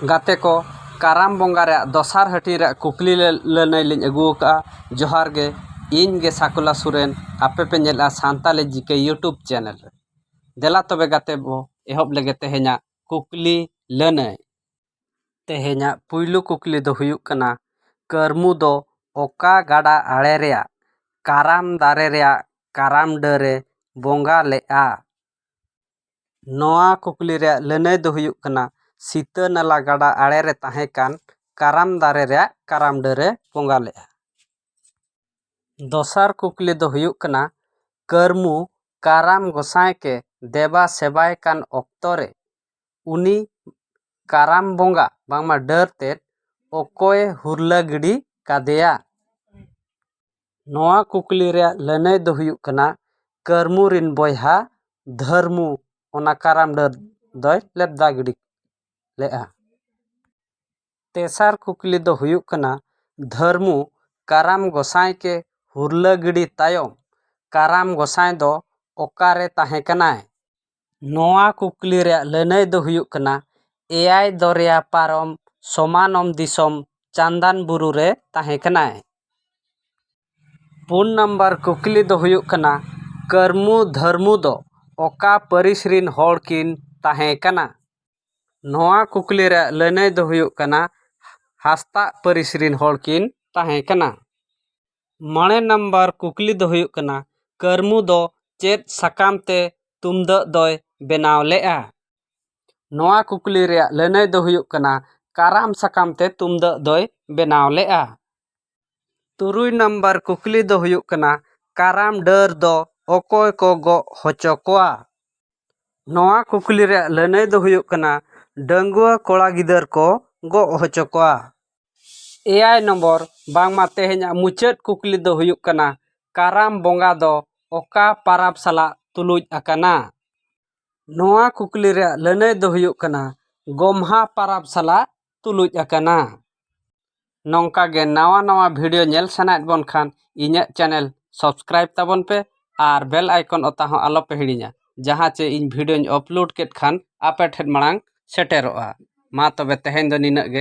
ᱜᱟᱛᱮ ᱠᱚ ᱠᱟᱨᱟᱢ ᱵᱚᱸᱜᱟ ᱨᱮᱭᱟᱜ ᱫᱚᱥᱟᱨ ᱦᱟᱹᱴᱤᱧ ᱨᱮᱭᱟᱜ ᱠᱩᱠᱞᱤ ᱞᱟᱹᱱᱟᱹᱭ ᱞᱤᱧ ᱟᱹᱜᱩ ᱟᱠᱟᱫᱼᱟ ᱡᱚᱦᱟᱨ ᱜᱮ ᱤᱧ ᱜᱮ ᱥᱟᱠᱩᱞᱟ ᱥᱚᱨᱮᱱ ᱟᱯᱮ ᱯᱮ ᱧᱮᱞᱮᱫᱼᱟ ᱥᱟᱱᱛᱟᱲᱤ ᱡᱤ ᱠᱮ ᱤᱭᱩᱴᱩᱵᱽ ᱪᱮᱱᱮᱞ ᱨᱮ ᱫᱮᱞᱟ ᱛᱚᱵᱮ ᱜᱟᱛᱮ ᱵᱚᱱ ᱮᱦᱚᱵ ᱞᱮᱜᱮ ᱛᱮᱦᱮᱧᱟᱜ ᱠᱩᱠᱞᱤ ᱞᱟᱹᱱᱟᱹᱭ ᱛᱮᱦᱮᱧᱟᱜ ᱯᱩᱭᱞᱩ ᱠᱩᱠᱞᱤ ᱫᱚ ᱦᱩᱭᱩᱜ ᱠᱟᱱᱟ ᱠᱟᱹᱨᱢᱩ ᱫᱚ ᱚᱠᱟ ᱜᱟᱰᱟ ᱟᱲᱮ ᱨᱮᱭᱟᱜ ᱠᱟᱨᱟᱢ ᱫᱟᱨᱮ ᱨᱮᱭᱟᱜ ᱠᱟᱨᱟᱢ ᱰᱟᱹᱨᱮ ᱵᱚᱸᱜᱟ ᱞᱮᱫᱼᱟ ᱱᱚᱣᱟ ᱠᱩᱠᱞᱤ ᱨᱮᱭᱟᱜ ᱞᱟᱹᱱᱟᱹᱭ ᱫᱚ ᱦᱩᱭᱩᱜ ᱠᱟᱱᱟ ᱥᱤᱛᱟᱹ ᱱᱟᱞᱟ ᱜᱟᱰᱟ ᱟᱲᱮ ᱨᱮ ᱛᱟᱦᱮᱸ ᱠᱟᱱ ᱠᱟᱨᱟᱢ ᱫᱟᱨᱮ ᱨᱮᱭᱟᱜ ᱠᱟᱨᱟᱢ ᱰᱟᱹᱨᱮ ᱵᱚᱸᱜᱟ ᱞᱮᱫᱼᱟ ᱫᱚᱥᱟᱨ ᱠᱩᱠᱞᱤ ᱫᱚ ᱦᱩᱭᱩᱜ ᱠᱟᱱᱟ ᱠᱟᱹᱨᱢᱩ ᱠᱟᱨᱟᱢ ᱜᱚᱸᱥᱟᱭ ᱠᱮ ᱫᱮᱵᱟ ᱥᱮᱵᱟᱭ ᱠᱟᱱ ᱚᱠᱛᱚ ᱨᱮ ᱩᱱᱤ ᱠᱟᱨᱟᱢ ᱵᱚᱸᱜᱟ ᱵᱟᱝᱢᱟ ᱰᱟᱹᱨ ᱛᱮᱫ ᱚᱠᱚᱭᱮ ᱦᱩᱨᱞᱟᱹ ᱜᱤᱰᱤ ᱠᱟᱫᱮᱭᱟ ᱱᱚᱣᱟ ᱠᱩᱠᱞᱤ ᱨᱮᱭᱟᱜ ᱞᱟᱹᱱᱟᱹᱭ ᱫᱚ ᱦᱩᱭᱩᱜ ᱠᱟᱱᱟ ᱠᱟᱹᱨᱢᱩ ᱨᱮᱱ ᱵᱚᱭᱦᱟ ᱫᱷᱟᱹᱨᱢᱩ ᱚᱱᱟ ᱠᱟᱨᱟᱢ ᱰᱟᱹᱨ ᱫᱚᱭ ᱞᱮᱵᱽᱫᱟ ᱜᱤᱰᱤ ᱞᱮᱫᱼᱟ ᱛᱮᱥᱟᱨ ᱠᱩᱠᱞᱤ ᱫᱚ ᱦᱩᱭᱩᱜ ᱠᱟᱱᱟ ᱫᱷᱟᱹᱨᱢᱩ ᱠᱟᱨᱟᱢ ᱜᱚᱸᱥᱟᱭ ᱠᱮ ᱦᱩᱨᱞᱟᱹ ᱜᱤᱰᱤ ᱛᱟᱭᱚᱢ ᱠᱟᱨᱟᱢ ᱜᱚᱸᱥᱟᱭ ᱫᱚ ᱚᱠᱟᱨᱮ ᱛᱟᱦᱮᱸ ᱠᱟᱱᱟᱭ ᱱᱚᱣᱟ ᱠᱩᱠᱞᱤ ᱨᱮᱭᱟᱜ ᱞᱟᱹᱱᱟᱹᱭ ᱫᱚ ᱦᱩᱭᱩᱜ ᱠᱟᱱᱟ ᱮᱭᱟᱭ ᱫᱚᱨᱭᱟ ᱯᱟᱨᱚᱢ ᱥᱚᱢᱟᱱᱚᱢ ᱫᱤᱥᱚᱢ ᱪᱟᱱᱫᱟᱱ ᱵᱩᱨᱩ ᱨᱮ ᱛᱟᱦᱮᱸ ᱠᱟᱱᱟᱭ ᱯᱩᱱ ᱱᱟᱢᱵᱟᱨ ᱠᱩᱠᱞᱤ ᱫᱚ ᱦᱩᱭᱩᱜ ᱠᱟᱱᱟ ᱠᱟᱹᱨᱢᱩ ᱫᱷᱟᱹᱨᱢᱩ ᱫᱚ ᱚᱠᱟ ᱯᱟᱹᱨᱤᱥ ᱨᱤᱱ ᱦᱚᱲ ᱠᱤᱱ ᱛᱟᱦᱮᱸ ᱠᱟᱱᱟ ᱱᱚᱣᱟ ᱠᱩᱠᱞᱤ ᱨᱮᱭᱟᱜ ᱞᱟᱹᱱᱟᱹᱭ ᱫᱚ ᱦᱩᱭᱩᱜ ᱠᱟᱱᱟ ᱦᱟᱸᱥᱫᱟᱜ ᱯᱟᱹᱨᱤᱥ ᱨᱤᱱ ᱦᱚᱲ ᱠᱤᱱ ᱛᱟᱦᱮᱸ ᱠᱟᱱᱟ ᱢᱚᱬᱮ ᱱᱟᱢᱵᱟᱨ ᱠᱩᱠᱞᱤ ᱫᱚ ᱦᱩᱭᱩᱜ ᱠᱟᱱᱟ ᱠᱟᱹᱨᱢᱩ ᱫᱚ ᱪᱮᱫ ᱥᱟᱠᱟᱢ ᱛᱮ ᱛᱩᱢᱫᱟᱹᱜ ᱫᱚᱭ ᱵᱮᱱᱟᱣ ᱞᱮᱫᱼᱟ ᱱᱚᱣᱟ ᱠᱩᱠᱞᱤ ᱨᱮᱭᱟᱜ ᱞᱟᱹᱱᱟᱹᱭ ᱫᱚ ᱦᱩᱭᱩᱜ ᱠᱟᱱᱟ ᱠᱟᱨᱟᱢ ᱥᱟᱠᱟᱢ ᱛᱮ ᱛᱩᱢᱫᱟᱹᱜ ᱫᱚᱭ ᱵᱮᱱᱟᱣ ᱞᱮᱫᱼᱟ ᱛᱩᱨᱩᱭ ᱱᱟᱢᱵᱟᱨ ᱠᱩᱠᱞᱤ ᱫᱚ ᱦᱩᱭᱩᱜ ᱠᱟᱱᱟ ᱠᱟᱨᱟᱢ ᱰᱟᱹᱨ ᱫᱚ ᱚᱠᱚᱭ ᱠᱚ ᱜᱚᱜ ᱦᱚᱪᱚ ᱠᱚᱣᱟ ᱱᱚᱣᱟ ᱠᱩᱠᱞᱤ ᱨᱮᱭᱟᱜ ᱞᱟᱹᱱᱟᱹᱭ ᱫᱚ ᱦᱩᱭᱩᱜ ᱠᱟᱱᱟ ᱰᱟᱺᱜᱩᱣᱟᱹ ᱠᱚᱲᱟ ᱜᱤᱫᱟᱹᱨ ᱠᱚ ᱜᱚᱜ ᱦᱚᱪᱚ ᱠᱚᱣᱟ ᱮᱭᱟᱭ ᱱᱚᱢᱵᱚᱨ ᱵᱟᱝᱢᱟ ᱛᱮᱦᱮᱧᱟᱜ ᱢᱩᱪᱟᱹᱫ ᱠᱩᱠᱞᱤ ᱫᱚ ᱦᱩᱭᱩᱜ ᱠᱟᱱᱟ ᱠᱟᱨᱟᱢ ᱵᱚᱸᱜᱟ ᱫᱚ ᱚᱠᱟ ᱯᱚᱨᱚᱵᱽ ᱥᱟᱞᱟᱜ ᱛᱩᱞᱩᱡ ᱟᱠᱟᱱᱟ ᱱᱚᱣᱟ ᱠᱩᱠᱞᱤ ᱨᱮᱭᱟᱜ ᱞᱟᱹᱱᱟᱹᱭ ᱫᱚ ᱦᱩᱭᱩᱜ ᱠᱟᱱᱟ ᱜᱚᱢᱦᱟ ᱯᱚᱨᱚᱵᱽ ᱥᱟᱞᱟᱜ ᱛᱩᱞᱩᱡ ᱟᱠᱟᱱᱟ ᱱᱚᱝᱠᱟ ᱜᱮ ᱱᱟᱣᱟ ᱱᱟᱣᱟ ᱵᱷᱤᱰᱤᱭᱳ ᱧᱮᱞ ᱥᱟᱱᱟᱭᱮᱫ ᱵᱚᱱ ᱠᱷᱟᱱ ᱤᱧᱟᱹᱜ ᱪᱮᱱᱮᱞ ᱥᱟᱵᱥᱠᱨᱟᱭᱤᱵᱽ ᱛᱟᱵᱚᱱ ᱯᱮ ᱟᱨ ᱵᱮᱞ ᱟᱭᱠᱚᱱ ᱚᱛᱟ ᱦᱚᱸ ᱟᱞᱚ ᱯᱮ ᱦᱤᱲᱤᱧᱟ ᱡᱟᱦᱟᱸ ᱪᱮ ᱤᱧ ᱵᱷᱤᱰᱤᱭᱳᱧ ᱟᱯᱞᱳᱰ ᱠᱮᱫ ᱠᱷᱟᱱ ᱟᱯᱮ ᱴᱷᱮᱱ ᱢᱟᱲᱟᱝ ᱥᱮᱴᱮᱨᱚᱜᱼᱟ ᱢᱟ ᱛᱚᱵᱮ ᱛᱮᱦᱮᱧ ᱫᱚ ᱱᱤᱱᱟᱹᱜ ᱜᱮ